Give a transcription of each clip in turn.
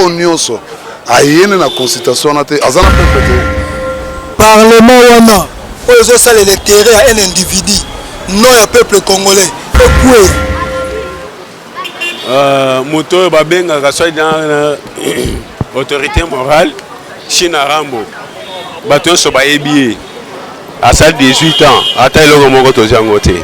oyo nyonso ayene na consultation wana te aza na peuple te parlement wana oyo ezosalela intere ya un individu non ya peuple congolais ekwe euh, moto oyo babengaka soit dans euh, autorité morale china rambo bato nyonso bayebi ye asali 18 ans ata eloko moko tozi yango te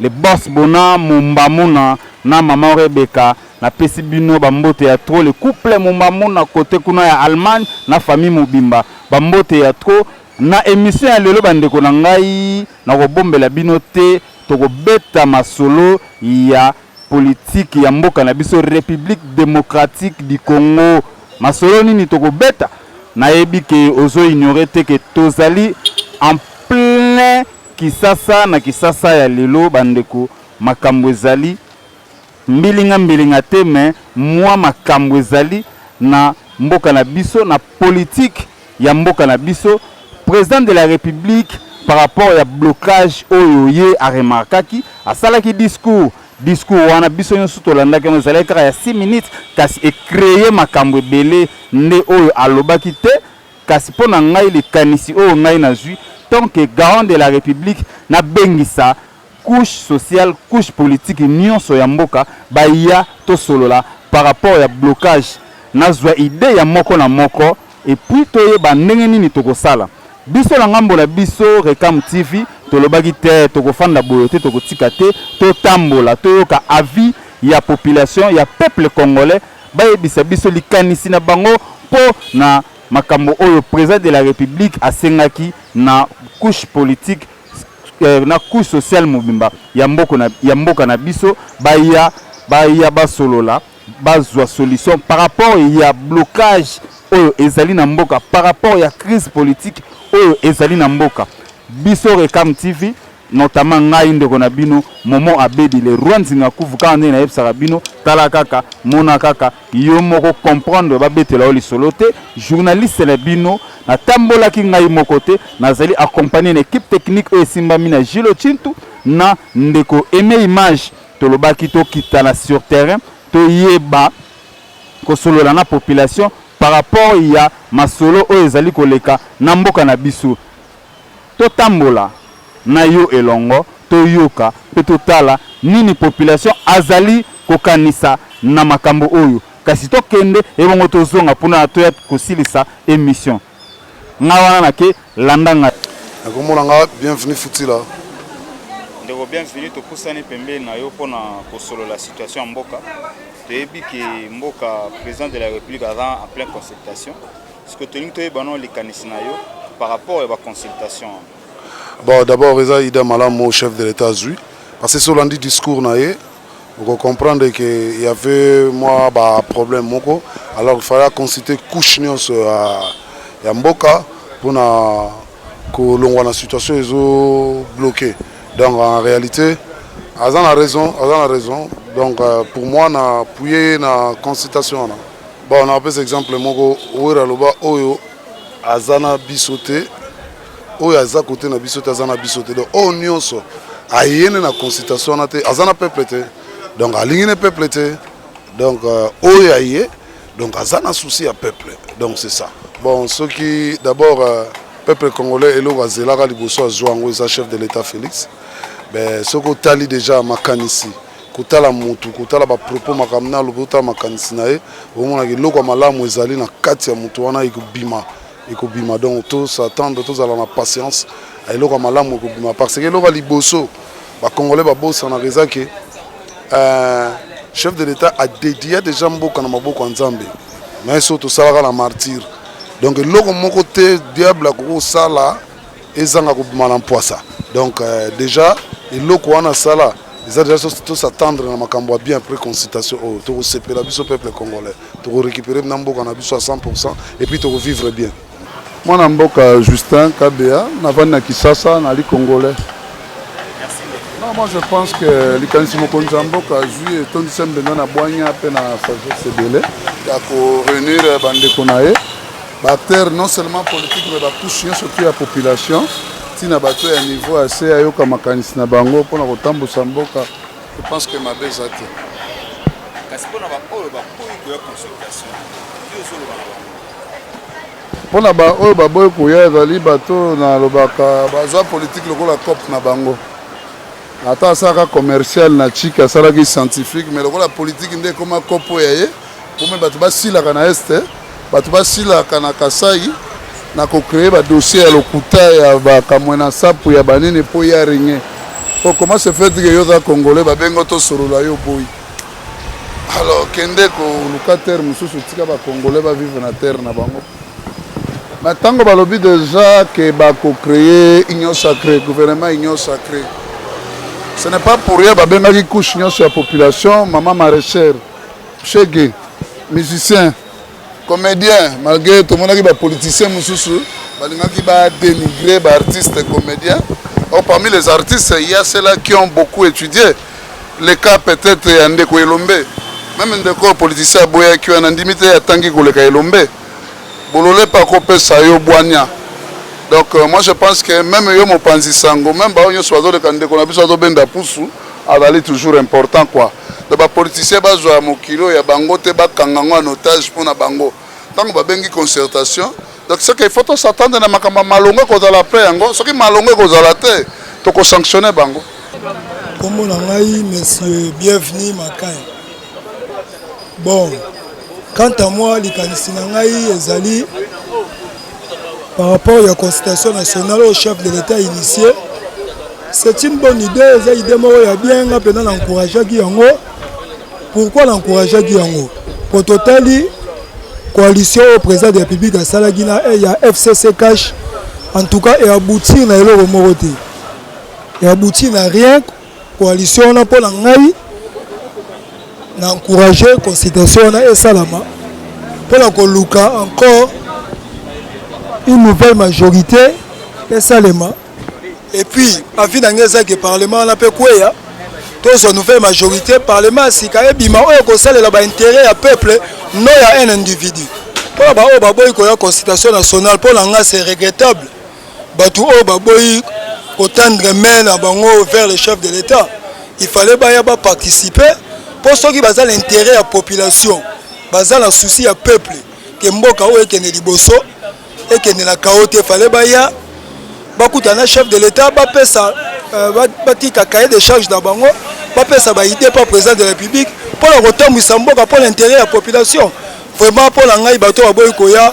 Le boss bona mumba muna na maman Rebecca na pesi bino ba mbote ya trop le couple mumba muna cote kuna ya Allemagne na famille mobimba ba mbote ya trop na emission ya lelo ba ndeko na ngai na ko bombela bino te toko beta masolo ya politique ya mboka na biso Republique Democratique du Congo masolo nini toko beta na yebi ke ozo ignorer te ke tozali en plein Kisasa na kisasa ya lelo ba ndeko makambo ezali mbilinga mbilinga te mais mua makambo ezali na mboka na biso na politique ya mboka na biso president de la republique par rapport ya blocage oyo ye a remarkaki asalaki discours discours wana biso nionso tolandaki yango ezalaki kaka ya 6 minutes kasi e creer makambo ebele nde oyo alobaki te Kasi mpo na ngai likanisi oyo ngai nazui tant que garant de la republique na bengisa couche sociale couche politique nionso ya mboka baya tosolola par rapport ya blocage nazua idee ya moko na moko et puis toyeba ndenge nini tokosala biso na ngambo na biso Recam TV tolobaki te tokofanda boye te tokotika te totambola toyoka avis ya population ya peuple congolais bayebisa biso likanisi na bango mpo na makambo oyo President de la Republique asengaki na couche politique na couche sociale mobimba ya mboka na biso baya baya basolola bazua solution par rapport ya blocage oyo ezali na mboka par rapport ya crise politique oyo ezali na mboka biso Recam TV notamment ngai ndeko na bino momo abedi le roi nzingakuvu kaka ndenge nayebisaka bino tala kaka mona kaka yo moko comprendre babetela yo lisolo te journaliste na bino natambolaki ngai moko te nazali accompagné na équipe technique oyo esimbami na gilo chintu na ndeko aime image tolobaki tokitana sur terrain toyeba kosolola na population par rapport ya masolo oyo ezali koleka na mboka na biso Totambola na yo elongo, toyoka mpe totala nini population azali kokanisa na makambo oyo. Kasi tokende ebongo tozonga mpo na toya kosilisa emission. Nga wana nake, landa nga. Na kombo na nga Bienvenu Futila. Ndeko Bienvenu, topusani pembeni na yo mpo na kosolola situation ya mboka. Toyebi que mboka President de la Republique aza en plein consultation. Ce que tolingi toyeba no likanisi na yo par rapport ya ba consultation wana. Bon d'abord eza idée malamu chef de l'etat azwi parce que so olandi discours na ye oko comprendre que il y avait mwa ba problème moko alors il fallait consulter couche nyonso ya, ya mboka mpona kolongwa na situation ezo bloquer donc en réalité aza na raison aza na raison donc euh, pour moi na puye na consultation wana Bon, na pesa exemple moko wera loba oyo azana biso te oyo aza kote na biso te aza na biso te donc oyo nyonso aye nde na consultation wana te aza na peuple te donc alingi ne peuple te donc euh, oyo aye donc aza na souci ya peuple donc c'est ça bon soki d'abord euh, peuple congolais eloko azelaka liboso azwa yango eza chef de l'état félix soki otali déjà makanisi kotala motu kotala bapropos makambo na alobi otala makanisi na ye omonaka eloko ya malamu ezali na kati ya motu wana ekobima ekobima donc tosatendre tozala na patience eloko ya malamu ekobima parce que eloko ya liboso bacongolais babosanaka eza ke euh, chef de l'état adedia déjà mboka na maboko ya nzambe mais so tosalaka na martyre donc eloko moko te diable akoki kosala ezanga kobima na mpwasa donc euh, déjà eloko wana asala eza déjà tosatendre na makambo ya bien après consultation oyo oh, tokosepela biso peuple congolais tokorécupere na mboka na biso ya 100 pourcent et puis tokovivre bien mwana mboka justin kabea navandi na kisasa nali congolais non moi je pense que likanisi mokonzi ya mboka azwi etondisa mbenza na bwanya mpe na sagesse ebele ya koreunir bandeko na ye Ba acteurs non seulement politique mais ba couche nyonso tout ya population ntina bato ya niveau ya se ayoka makanisi na bango mpo na kotambusa mboka je pense que mabe eza te kasi mpo na baoyo baboyi koya consultation yo ozoloba na bango mpo na baoyo baboyi koya ezali bato nalobaka bazwa politike lokola cope na bango ata asalaka commercial na chike asalaki scientifique mais lokola politike nde ekoma cope oyo ya ye Comme bato basilaka na est, bato basilaka na Kasai na ko créer ba dossiers ya lokuta ya ba Kamwena Nsapu ya banini po ya rien. Po comment se fait que yo oza congolais babengo tosolola yo boyi. Alors kende koluka terre mosusu tika ba congolais ba vivre na terre na bango. Mais ntango balobi déjà que bako créer union sacrée, gouvernement union sacrée. Ce n'est pas pour rien babengaki couche nyonso ya population mama maraîchère. Shege, musicien, comedien, malgré tomonaki ba politiciens mosusu balingaki ba dénigrer ba artistes comediens. Or parmi les artistes, il y a ceux-là qui ont beaucoup étudié. Le cas peut-être ya ndeko Elombe. Même ndeko politicien aboyaki wana ndimi te atangi koleka Elombe. Bolole pa kopesa yo bwanya. Donc euh, moi je pense que même yo mopanzi sango, même ba nyonso bazoleka ndeko na biso azobenda pusu, azali toujours important quoi. Donc ba politiciens bazwa mokilo ya bango te bakanga ngo en otage mpo na bango ntango babengi concertation donc seke il faut tosatande na makambo ya malonga ekozala apres yango soki malonga ekozala te tokosanctionne bango nkombo na ngai monsieur bienvenu makai bon quant à moi likanisi na ngai ezali Par rapport ya consultation nationale oyo chef de l'Etat initié, c'est une bonne idée, eza idée moko ya bien nga mpenza na encourageaki yango. Pourquoi na encourageaki yango? Mpo totali coalition oyo président de la République asalaki na eh, ya FCC cash en tout cas e aboutir na eloko moko te, e aboutir na rien Coalition wana mpo na ngai na encourage consultation wana esalama mpo na koluka encore une nouvelle majorité esalema et puis avis na ngai eza ke parlement wana mpe kweya tozwa nouvelle majorité parlement ya sika ebima oyo ekosalela baintérêt ya peuple no ya un individu mpo na baoyo baboyi koya consultation nationale mpo na ngai c'est regrettable batu oyo baboyi ko tendre main na bango vers le chef de l'etat il fallait baya ba participer po soki baza na interet ya population baza na souci ya peuple ke mboka oyo ekende liboso ekende na kao te fale baya bakuta na chef de l'etat bapesa euh, batika cahier de charge na bango bapesa baide pa président de la république mpo na kotambwisa mboka mpo na interet ya population vraiment mpo na ngai bato baboyi koya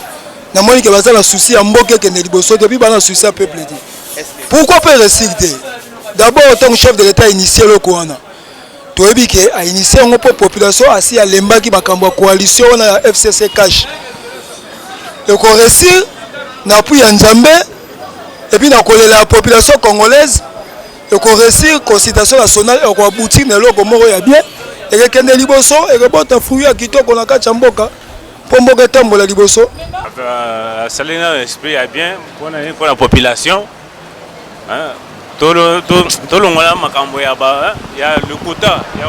na moni ke baza na souci ya mboka ekende liboso te puis baza na souci ya peuple te pourquoi pas resig te d'abord ntango chef de l'état initie eloko wana toyebi ke ainitie yango mpo population asi alembaki makambo ya coalition wana ya fcc cash ekoresir na appui ya nzambe epuis na kolela ya population congolaise ekoresir consultation nationale ekoabutir na eloko moko ya bien ekekende liboso ekobota fruit ya kitoko na kati ya mboka mpo mboka etambola liboso asali na esprit ya bien mpona nini mpona population tolongola makambo ya lokuta ya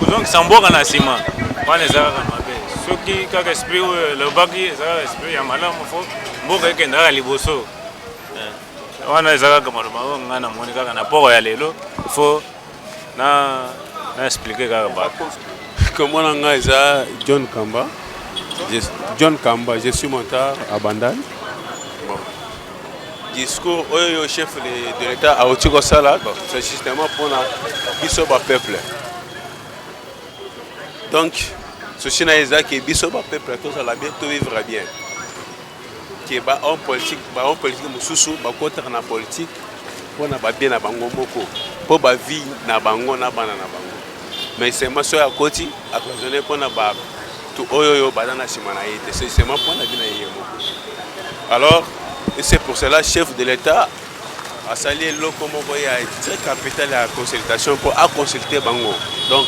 kozongisa mboka na nsima wana eza kaka mabe soki kaka esprit oyo elobaki eza kaka esprit ya malamu fo mboka ekenda kaka liboso wana eza kaka maloba oyo ngai namoni kaka na poro ya lelo fo na na expliquer kaka ba comment na nga eza John Kamba je, John Kamba je suis monteur à Bandal bon discours oyo yo chef de, de l'état auti kosala bon c'est justement mpona biso ba peuple donc souci na ye eza ke biso ba peuple tozala bien to vivre bien que ba hommes politiques ba hommes politiques mosusu bakotaka na politique mpo na babie na bango moko mpo bavie na bango na bana na bango mais seulement soki akoti akozone mpo na bato oyo oyo baza na nsima na ye te c'est seulement mpo na vie na ye moko alors et c'est pour cela chef de l'état asali eloko moko ya très capital ya consultation mpo aconsulte bango donc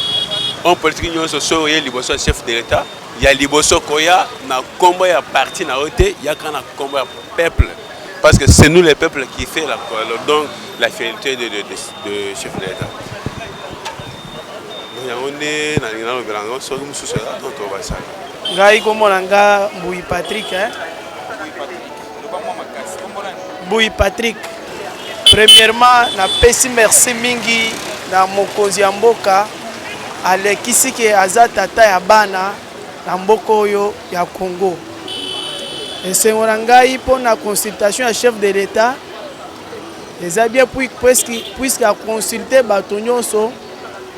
homme politique nyonso soki oye liboso ya chef de l'état Ya liboso koya na kombo ya parti na yo te yaka na kombo ya peuple parce que c'est nous les peuples qui fait la donc la fierté de, de, de, de chef de l'État. yango nde nalingi nalobela yango soki mosusu eza to tobasala ngai komona nga mbuyi patrick eh? Buyi Patrick, premièrement napesi merci mingi na mokonzi ya mboka alekisi ke aza tata ya bana na mboka oyo ya Congo. Esengo na ngai mpo na consultation ya chef de l'État eza bien puisque aconsulte bato nyonso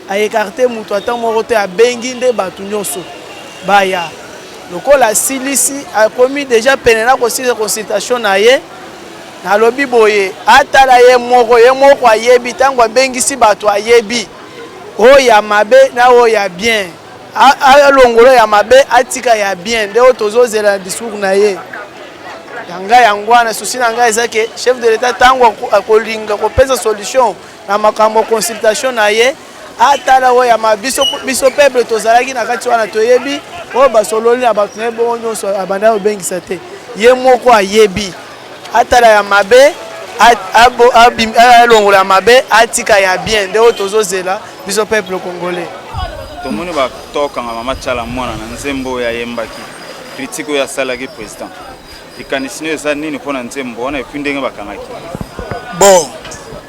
aekarte moto ata moko te abengi nde bato nyonso baya lokola asilisi akomi deja pene na kosilisa consultation na ye nalobi boye atala ye moko ye moko ayebi ntango abengisi bato ayebi oyo ya mabe na oyo ya bien alongolo ya mabe atika ya bien nde oyo tozozela na discours na ye ya ngai yango wana susi na ngai eza ke chef de l'etat ntango akolinga kopesa solution na makambo consultation na ye atala oyo ya ma biso biso peuple tozalaki na kati wana toyebi oyo basololi na bato na ye bongo nyonso abanda kobengisa te ye moko ayebi atala ya mabe alongola ya mabe atika ya bien nde oyo tozozela biso peuple congolais tomoni batokanga mama tyala mwana na nzembo oyo ayembaki kritike oyo asalaki président likanisi nayo eza nini mpo na nzembo wana epuis ndenge bakangaki bon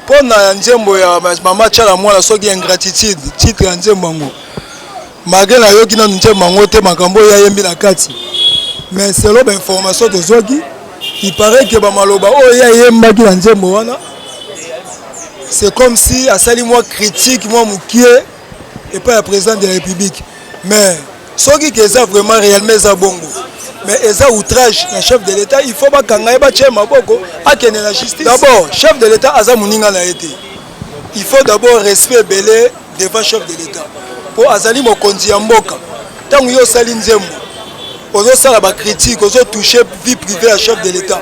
mpo na nzembo ya mama tiala mwana soki ingratitude titre ya nzembo yango malgre nayoki nanu nzembo yango te makambo oyo ayembi na kati mais selo bainformation tozwaki iparait ke bamaloba oyo ye ayembaki na nzembo wana c'est comme si asali mwa critique mwa mokie epai ya president de la republique mais soki ke eza vraiment réellement eza bongo mais eza outrage na chef de l'état il faut bakanga ye batya ye maboko akende na justice d'abord chef de l'état aza moninga na ye te il faut d'abord respect ebele devant chef de l'état mpo azali mokonzi ya mboka ntango yo osali nzembo ozosala bacritique ozotouche vie privée ya chef de l'état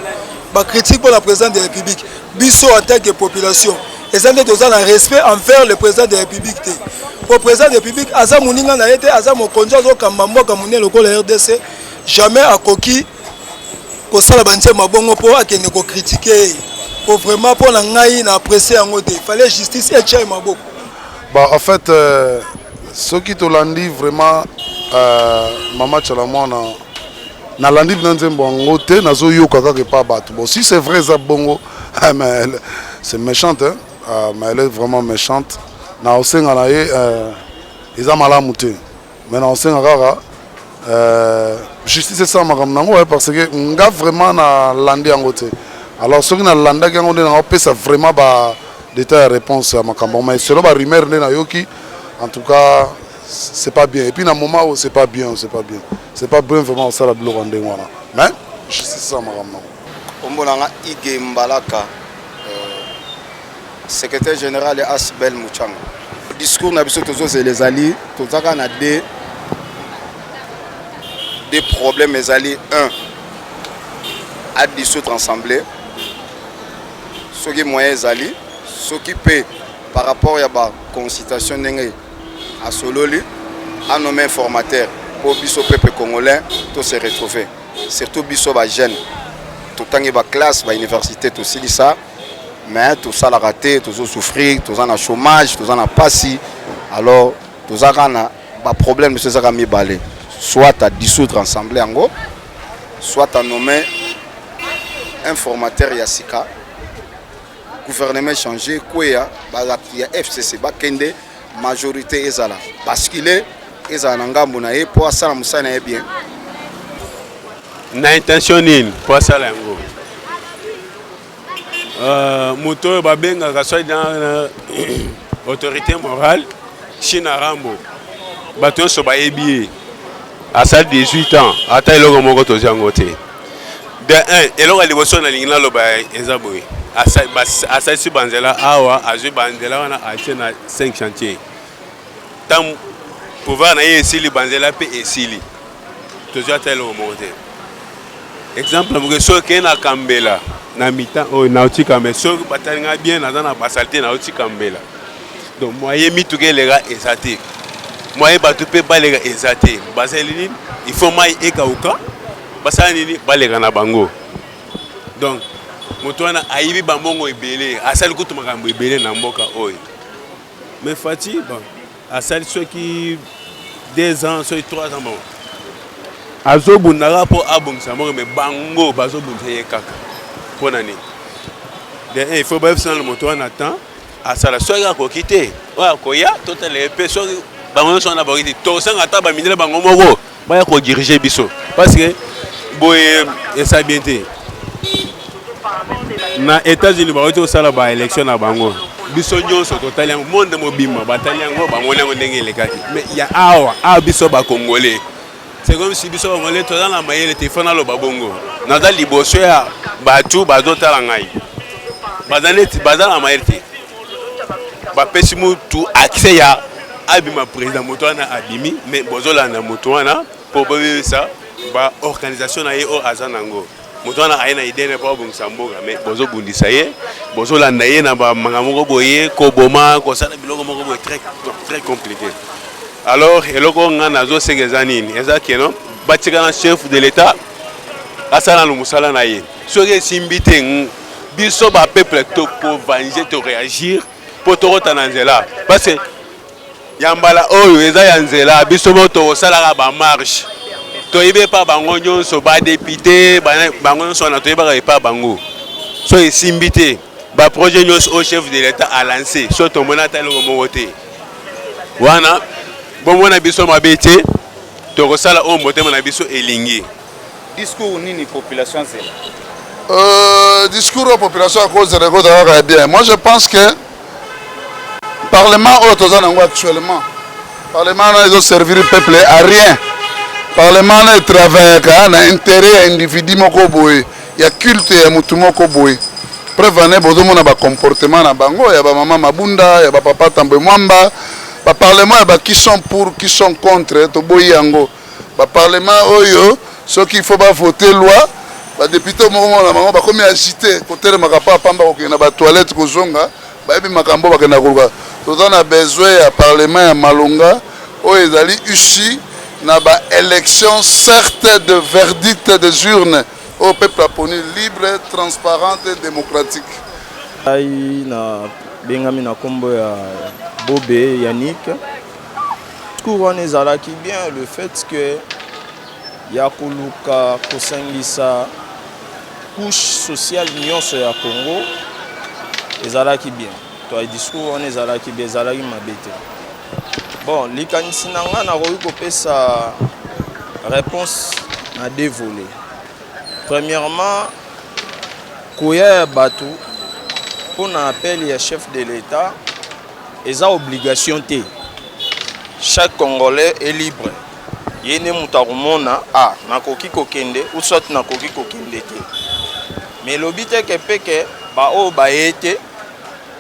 bacritique mpo na président de la république biso en tant que population eza nde toza na respect envers le président de la république te po président de république aza moninga na ye te aza mokonzi azokamba mboka monene lokola rdc jamais akoki kosala bantie mabongo mpo akende kokritike ye mpo vraiment mpo na ngai na apprécie yango te fallait justice etya ye maboko ba en fait euh, soki tolandi vraiment euh, mama chalamwana nalandi na nzembo yango te nazoyoka kaka epa bato bon si c'est vrai eza bongo ah, c'est méchante hein? Ah, mais elle est vraiment méchante na osenga na ye euh, eza malamu te mais na osenga kaka euh, justice esala makambo na yango parce que nga vraiment nalandi yango te alors soki nalandaki yango nde nakopesa vraiment ba detail ya réponse ya makambo mais selo ba rumeur nde nayoki en tout cas c'est pas bien et puis na moment oyo c'est pas bien c'est pas bien C'est pas bien vraiment osala biloko ya ndenge wana mais justice eza makambo nango. Kombo na nga Ige Mbalaka, euh, secrétaire général ya Asbel Muchanga. Discours na biso tozozela ezali tozaka na de de problème ezali un à dissoudre ensemble soki moyen ezali soki mpe par rapport ya baconsultation ndenge Asololi a nomme un formateur po biso peuple congolais to se retrouver surtout biso ba jeunes totangi ba classe ba université tosilisa mais tosalaka te tozo souffrir toza na chômage toza na pasi alors toza kaka na ba problème biso ezaka mibale soit à dissoudre ensemble yango soit à nommer un formateur ya sika gouvernement échange kweya balapti ya fcc bakende majorité ezala bascule ezala na ngambo na ye mpo asala mosala na ye bien na intention nini mpo asala yango euh, moto oyo babengaka soi dans autorité morale china rambo bato nyonso bayebi ye asali 18 ans ata eloko moko tozwi yango te De un, eloko ya liboso nalingi naloba eza boye, asalisi banzela awa, azwi banzela wana atie na 5 chantier. Ntango pouvoir na ye esili, banzela mpe esili, tozwi ata eloko moko te. Exemple moke, soki okei na Kambela na mitan oyo nauti Kambela, soki batali ngai bien, naza na basalite nauti Kambela Donc moyen mituka eleka eza te. Moyen bato mpe baleka eza te. Basali nini? Il faut mai ekauka. Basala nini? Baleka na bango. Donc moto wana ayibi bambongo ebele, asali kutu makambo ebele na mboka oyo. Mais Fatshi bon, asali soki deux ans soki trois ans bon azobundaka mpo abongisa mboka me bango bazobundisa ye kaka mpo na nini de il faut bayebisa nano moto wana temps Asala soki akoki te oyo akoya totala ye mpe soki bango nyonso wana bakoki te tosanga ata bamindele bango moko baya kodirige biso parce que boye esa bien te na états-unis bakoki te kosala baélection na bango biso nyonso totali yango monde mobimba batali yango bamoni yango ndenge elekaki mais ya awa awa biso bakongole C'est comme si biso bangole toza na mayele te fana loba bongo. Naza liboso ya batu bazo tala ngai. Baza neti baza na mayele te. Bapesi mutu accès ya abima président moto wana abimi mais bozolanda moto wana mpo boyebisa baorganisation na ye oyo aza nango moto wana aye na idene mpo abongisa mboka me bozobundisa ye bozolanda ye na bamanga moko boye koboma kosala biloko moko boye très, très compliqué alors eloko nga nazosenga eza nini eza keno batika na chef de l'état asala na mosala na ye soki esimbi te biso bapeuple tokovanje toréagir mpo tokota na nzela parce que Ya mbala oyo eza ya nzela biso moko tokosalaka ba marche toyebi epa bango nyonso ba depute bango nyonso wana toyebaka epa bango so esimbi te ba projet nyonso oyo chef de l'etat a lance so tomona ata eloko moko te wana bomona biso mabe te tokosala oyo motema na biso elingi Discours nini population azela? Euh, discours ya population akozela ekozala kaka ya bien. Moi je pense que parlement oyo toza nango actuellement parlement wana ezo servir peuple à rien. Parlement wana etravaillaka na intérêt ya individu moko boye ya culte ya motu moko boye preuve ane bozomona bacomportement na bango ya bamama mabunda ya bapapa tambwe mwamba baparlement ya ba qui sont pour qui sont contre toboyi yango Ba parlement oyo soki il faut ba voter loi ba depute moko mona bango bakomi agite kotelemaka pa pamba kokende na ba toilette kozonga bayebi makambo bakenda koluka toza na besoin ya parlement ya malonga oyo ezali usi na ba élection certes de verdict des urnes oyo peuple aponi libre transparente et démocratique ngai na bengami na kombo ya bobe yannick Discours wana ezalaki bien le fait que ya koluka kosangisa couche sociale nyonso ya Congo ezalaki bien to discours wana ezalaki bien ezalaki mabe te bon likanisi na ngai nakoki kopesa réponse na deux volets premièrement koya ya bato mpo na appel ya chef de l'etat Eza obligation te. Chaque congolais est libre ye nde moto akomona a ah, nakoki kokende ou soit nakoki kokende te mais elobi te ke mpe ke baoyo baye te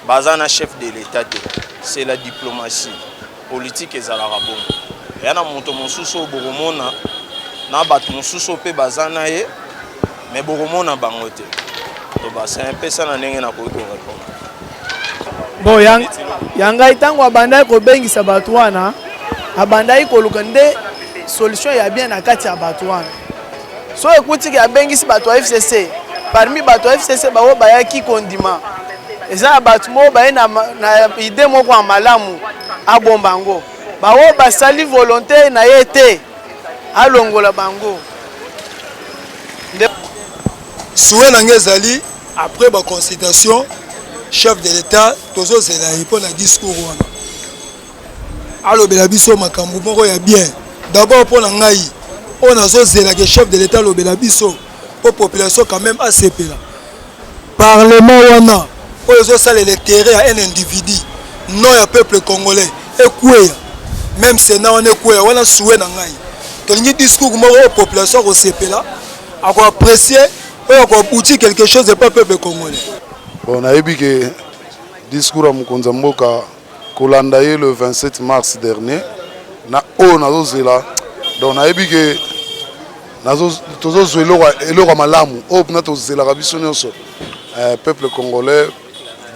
baza na chef de l'état te c'est la diplomatie politique ezalaka bongo eya na moto mosusu oyo bokomona na bato mosusu oyo mpe baza na ye Mais bokomona bango te. Loba c'est pesa na ndenge nakoki ko répondre. Bon yang ya ngai ntango abandaki kobengisa bato wana abandaki koluka nde solution ya bien na kati ya bato wana so ekutiki abengisi bato ya fcc parmi bato ya fcc baoyo bayaki kondima eza na bato moko baye na, na ide moko ya malamu abomba yango baoyo basali volonte na ye te alongola bango nde souhait na ngai ezali après baconsultation chef de l'état tozozela ye mpo na discours wana alobela biso makambo moko ya bien d'abord mpo na ngai oyo nazozelaka chef de l'état alobela biso mpo population quand même asepela Parlement wana oyo ezo salela interet ya un individu non ya peuple congolais ekueya meme senat wana ekueya wana souhait na ngai tolingi discours moko oyo population akosepela ako apprecier oyo ako aboutir quelque chose epa peuple congolais. Bon nayebi ke discours ya mokonzi ya mboka kolanda ye le 27 mars dernier na oyo nazozela donc nayebi ke tozozwa eloko ya malamu oyo mpena tozelaka biso nyonso eh, peuple congolais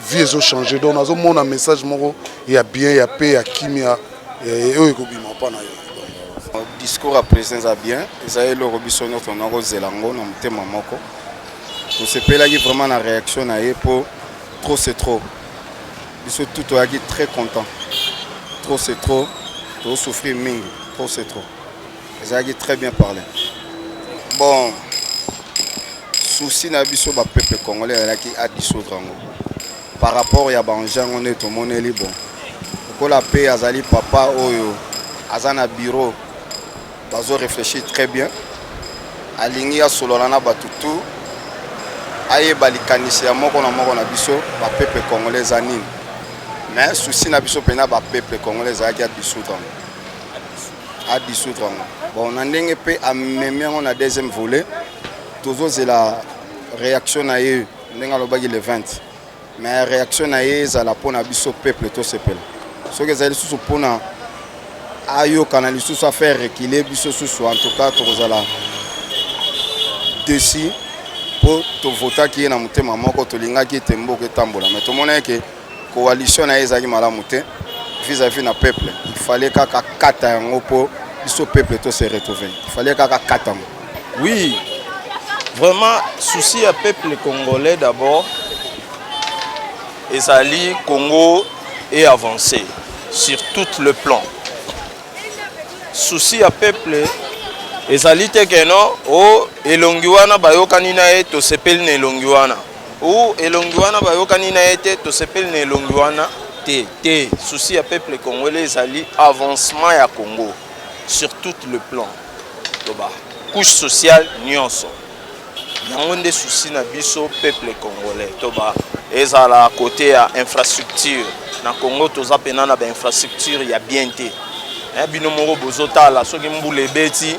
vie ezochange donc nazomona message moko ya bien ya pe ya kimia eh, oyo ekobima mpa na yo discours ya président eza bien eza eloko biso nyonso nakozela yango na motema moko tosepelaki vraiment na réaction na ye mpo trop c'est trop biso tout toyaki très content trop c'est trop tozosouffrir mingi trop c'est trop ezalaki très bien parle bon souci na biso bapeuple congolais ezalaki adissoudre yango par rapport ya banjango nde tomoneli bon lokola mpe azali papa oyo aza na bureau Bazo reflechir très bien. Alingi asolola na bato tout. Ayeba likanisi ya moko na moko na biso ba peuple congolais eza nini. Mais souci na biso mpena ba peuple congolais ezalaki adisoudre yango. Adisoudre yango. Bon na ndenge mpe amemi yango na deuxième volet tozozela réaction na ye ndenge alobaki le 20. mais reaction na ye ezala mpo na biso peuple tosepela soki ezali lisusu mpo na ayokana lisusu afaire rekile biso susu en tout cas tokozala desi mpo tovotaki ye na motema moko tolingaki ete mboka etambola mai tomonaki ke coalition na ye ezalaki malamu te vis-à-vis na peuple il fallait kaka kata yango mpo biso peuple to se retrouver il fallait kaka kata yango Oui, vraiment, souci à peuple congolais d'abord, Ezali Congo est avancé sur tout le plan. Souci à peuple ezali te ke no o oh, elongi wana bayokani na ye tosepeli na elongi wana o oh, elongi wana bayokani na ye te tosepeli na elongi wana te te souci ya peuple congolais ezali avancement ya congo sur tout le plan loba couche sociale nyonso yango nde souci na biso peuple congolais toba ezala kote ya infrastructure na congo toza mpena na bainfrastructure ya bien te eh, bino moko bozotala soki mbula ebeti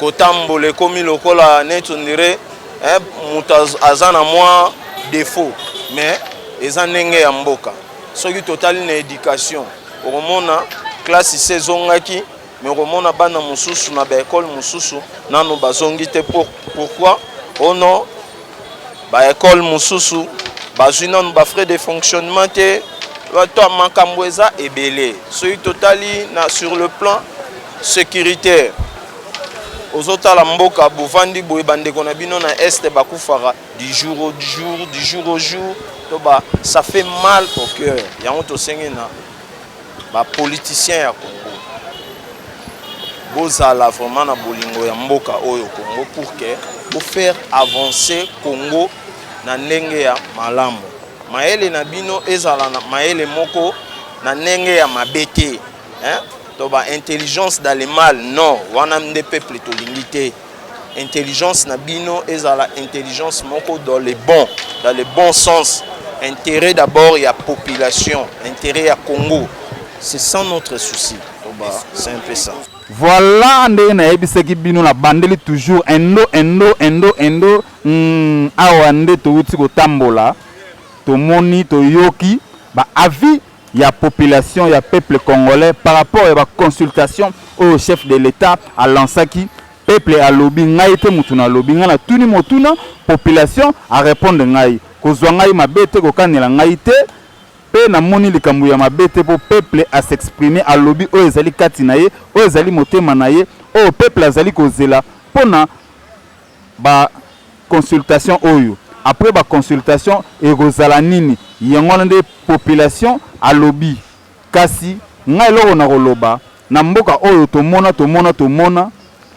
kotambola ekomi lokola neti ondire eh, moto aza na mwa defaut mais eza ndenge ya mboka soki totali na éducation okomona classe se ezongaki Mais okomona bana mususu na ba ecole mususu nanu bazongi te pour pourquoi oh non ba ecole mususu bazwi nanu ba frais de fonctionnement te to makambo eza ebele soki totali na sur le plan sécuritaire ozotala mboka bovandi boye bandeko na bino na este bakufaka du jour au jour du jour au jour to ba ça fait mal au cœur yango tosengi na ba politiciens ya Congo bozala vraiment na bolingo ya mboka oyo Congo pour que bo faire avancer Congo na ndenge ya malamu. Mayele na bino ezala na mayele moko na ndenge ya mabe te hein? to ba intelligence dans le mal non wana nde peuple tolingi te intelligence na bino ezala intelligence moko dans le bon dans le bon sens intérêt d'abord ya population intérêt ya congo c'est sans notre souci toba c'est un peu ça voilà ndenge nayebisaki bino na bandeli toujours endo endo endo endo mm, awa nde touti kotambola tomoni toyoki ba avis ya population ya peuple congolais par rapport ya ba consultation oyo chef de l'etat a lansaki peuple alobi ngai te mutu na lobi ngai na tuni motuna population a repondre ngai kozwa ngai mabe te kokanela ngai te pe na moni likambo ya mabe te po peuple a s'exprimer alobi oyo ezali kati na ye oyo ezali motema na ye oyo peuple azali kozela pona Ba consultation oyo après ba consultation ekozala nini yango wana nde population alobi kasi nga eloko na koloba na mboka oyo tomona tomona tomona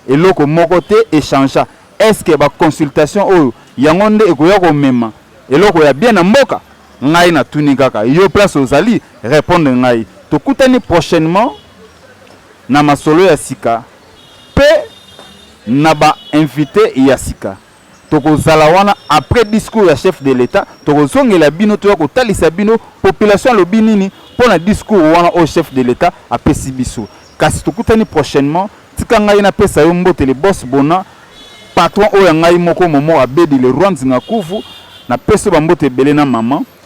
eloko moko te echangea est ce que ba consultation oyo yango nde ekoya komema eloko ya bien na mboka ngai na tuni kaka yo place ozali repondre ngai tokutani prochainement na masolo ya sika. pe na ba invite ya sika toko zala wana apres discour ya chef de l'etat toko zongela bino toya ko talisa bino population alobi nini pona discour wana oyo chef de l'etat apesi biso kasi tokutani prochainement tika ngai na pesa yo mbote le boss bona patron oyo ya ngai moko momo abedi le roi nzinga kuvu na pesi yo ba mbote ebele na maman